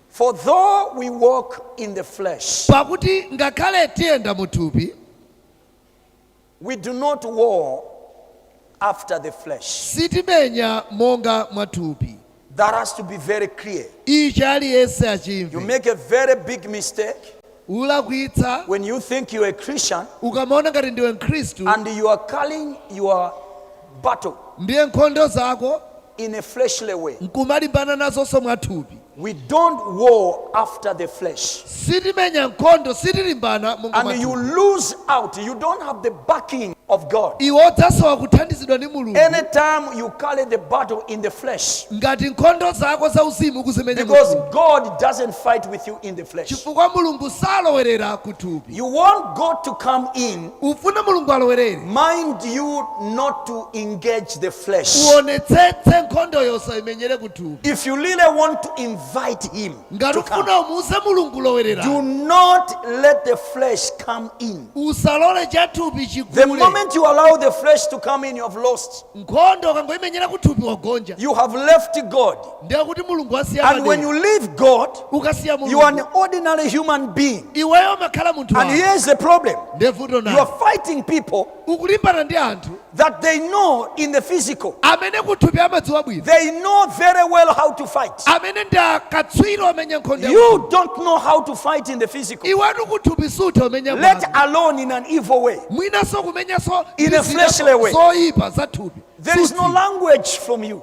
For though we walk in the flesh, pakuti ngakhale tiyenda mu thupi we do not war after the flesh. sitimenya monga mwa thupi That has to be very clear. ichi aliyense You achimve make a very big mistake ulakwitsa. When you think you're a Christian Ukamaona ngati ndiwe Mkhristu and you are carrying your battle ndiye nkhondo zako in a fleshly way, nkumalimbana nazonso mwathupi, we don't war after the flesh. sitimenya nkhondo, sitilimbana monga And mwathupi. you lose out. You don't have the backing of God. Iwe udzasowa kuthandizidwa ndi Mulungu Anytime you carry the battle in the flesh, ngati nkhondo zako zauzimu kuzimenya because mwathupi. God doesn't fight with you in the flesh. chifukwa mulungu salowerera ku thupi You want God to come in, ufuna mulungu alowerere mind you not to engage the flesh. uonetsetse nkhondo yo usaimenyere ku thupi If you really want to invite Him ngati to come, ufuna umuuze mulungu do alowerere not let the flesh come in. usalole cha thupi The chikule moment you allow the flesh to come in, you have lost. nkhondo ukangoimenyera ku thupi wagonja You have left God. ndiye kuti Mulungu wasiya And when padera you leave God, ukasiya you are an Mulungu ordinary human being. iweyo umakhala munthu And wako here's the problem ndiye vuto you are nali fighting people ukulimbana ndi anthu that they know in the physical, amene kuthupi amadziwa bwino they know very well how to fight. amene ndi akatswiri omenya nkhondo ya You don't know how to fight in the physical, iwetu kuthupi sutha kumenya let mwana. alone in an evil way. mwinanso kumenyanso In a ndi zida fleshly way. zoyipa za thupi There is no Sutha. language from you.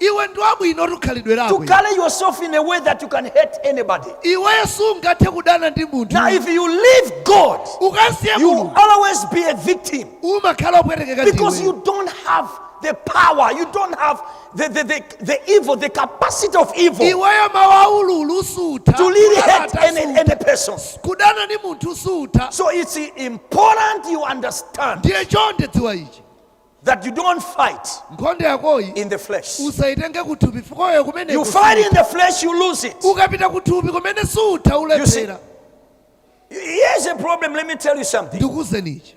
Iwe ndi wabwinotu khalidwe to lako iwe. carry yourself in a way that you can hurt anybody. Iweyo sungathe kudana ndi Now, munthu. if you leave God, Ukasiya you will Mulungu always be a victim umakhala opwetekeka because ndiwe. you don't have the power, you don't have the, the, the, the evil, the capacity of evil Iweyo mawu aululuwa sutha. to really kulala hate any, tasuta. any person. Kudana ndi munthu sutha. So it's important you understand Ndiye chonde dziwa ichi. that you don't fight nkhondo yakoyi in the flesh. usaitenge kuthupi fikoyo You kumeneko fight in the flesh, you lose it. ukapita kuthupi kumene sutha ulephera Here's a problem, let me tell you something. ndikuuzeni ichi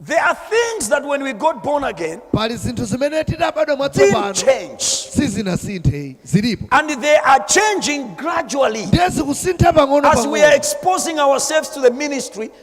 There are things that when we got born again pali zinthu zimene titabadwa didn't mwatsopano change, sizinasinthe zilipo and they are changing gradually ndiye zikusintha pang'ono as we are pang'ono exposing ourselves to the ministry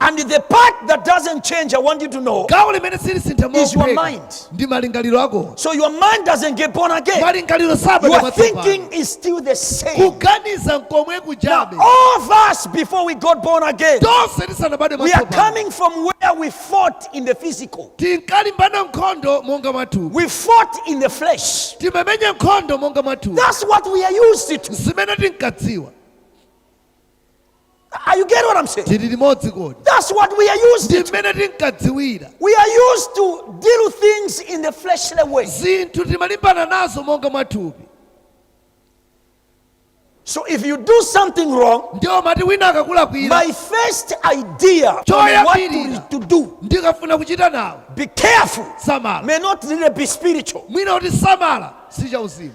And the part that doesn't change, I want you to know, gawo limene silisintha is your mophweka mind. ndi malingaliro ako So your mind doesn't get born again. malingaliro Your sabadwa thinking is still the same. kuganiza nkomwe Now, kujabe all of us, before we got born again, tonse tisanabadwe we are mwatsopano coming from where we fought in the physical. tinkalimbana nkhondo monga mwathupi We fought in the flesh. timamenya nkhondo monga mwathupi That's what we are used to. zimene tinkadziwa Are you getting what I'm saying? tili limodzi kodi That's what we are used ndi to. mmene tinkadziwira We are used to deal with things in the fleshly way. zinthu timalimbana nazo monga mwathupi So if you do something wrong, ndiye mati wina akakulakwira my first idea on what Choyambirira. to, to do, ndikafuna kuchita nawo because of, zomwe may not really be spiritual. mwina kuti chimakhala si chauzimu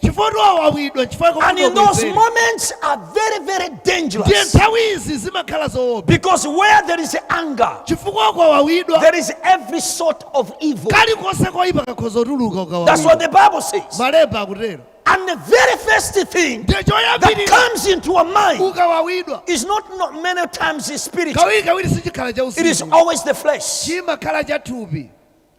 chifukwa kuti wawawidwa chifukwa chake And kuti in those wabwezere. moments are very, very ndiye dangerous. nthawi izi zimakhala zoopsa Because where there is anger, chifukwa ukawawidwa there is every sort of evil. kalikonse koyipa kakhoza kutuluka That's what ukawawidwa the Bible says. malemba akutero And the very first thing ndiye that choyambirira comes into our mind ukawawidwa is not, not many times the spirit, kawiri kawiri sichikhala cha it is uzimu always the flesh. chimakhala cha thupi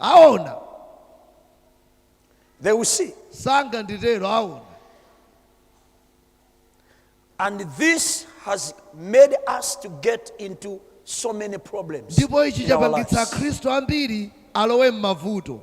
Aona. They will see. Sanganditero aona. And this has made us to get into so many problems. Ndipo ichi chapangitsa akhristu ambiri alowe m'mavuto.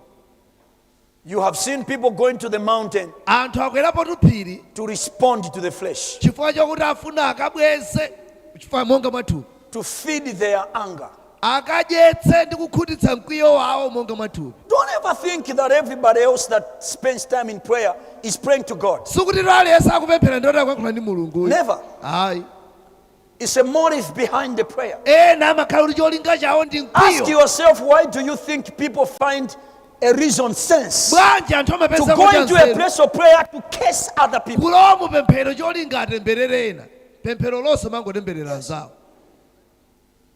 You have seen people going to the mountain anthu akwerapo tuphiri to respond to the flesh chifukwa chakuti afuna akabweze chifukwa monga mwathupi to feed their anger Akadyetse ndi kukhutitsa mkwiyo wawo monga mwa thupi. Don't ever think that everybody else that spends time in prayer is praying to God. Sikutitu aliyense akupemphera ndiye kuti akuyankhula ndi Mulungu. Never. Ayi. It's a motive behind the prayer. Ena amakhala ndi cholinga chawo ndi mkwiyo. Ask yourself why do you think people find a reason sense to go into a place of prayer to curse other people. kulowa mu pemphero cholinga atemberere ena pemphero lonse mangotemberera anzawo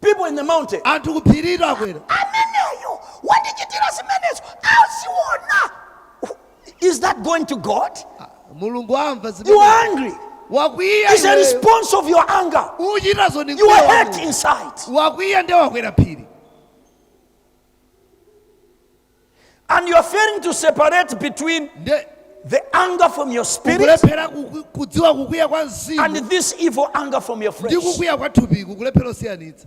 People in the mountain. anthu ku phiriro akwera Ameneyo wandichitira zimenezo aziona. Is that going to God? mulungu amva You zimene are angry. wakwiya It's a iweyo. response of your anger. uchitazo ndi You mkwiyo are wa hurt wanu. inside. wakwiya nde wakwera phiri And you are failing to separate between nde the anger from your spirit ukulephera kuku- kudziwa kukwiya kwa and mzimu this evil anger from your ndi flesh. kukwiya kwa thupiku kulephera osiyanitsa